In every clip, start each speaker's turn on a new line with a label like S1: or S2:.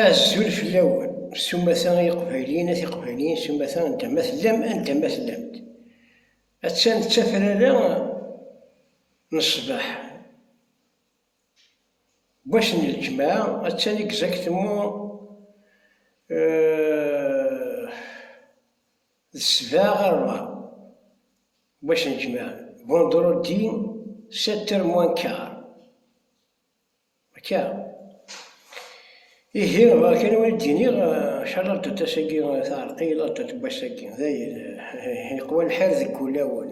S1: Azul fell-awen, s umata ay iqbayliyen a tiqbayliyin, s umata anda ma tellam, anda ma tellamt. Attan d tafrara n ṣṣbeḥ, n wass n ljemɛa, attan exactement d ssbeɛ ɣer rebɛa n wass n ljemɛa, vendredi sept heures moins quart. Akka. Ihi, akken i wen-id-iniɣ, maca laddut-as-agi teɛreq i laddut n wass-agi. Dayen, yeqwa lḥal deg wulawen.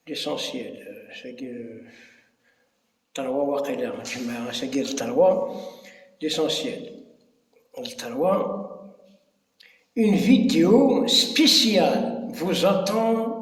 S1: L'essentiel, ass-agi d ṭerwa waqila, lǧemɛa, ass-agi d ṭerwa, l'essentiel, d ṭerwa. Une vidéo spéciale vous attend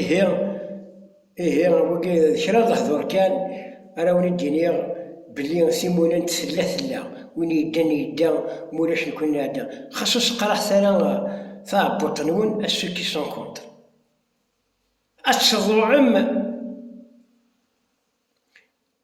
S1: Ihi, ihi wagi d kra n lehdur kan ara wen-id-iniɣ belli s imulen tella tella, win yeddan yedda ma ulac nekni nɛedda, xas ur seqraḥet ara taɛebbuṭ-nwen à ceux qui sont contre. Ad tḍuɛem!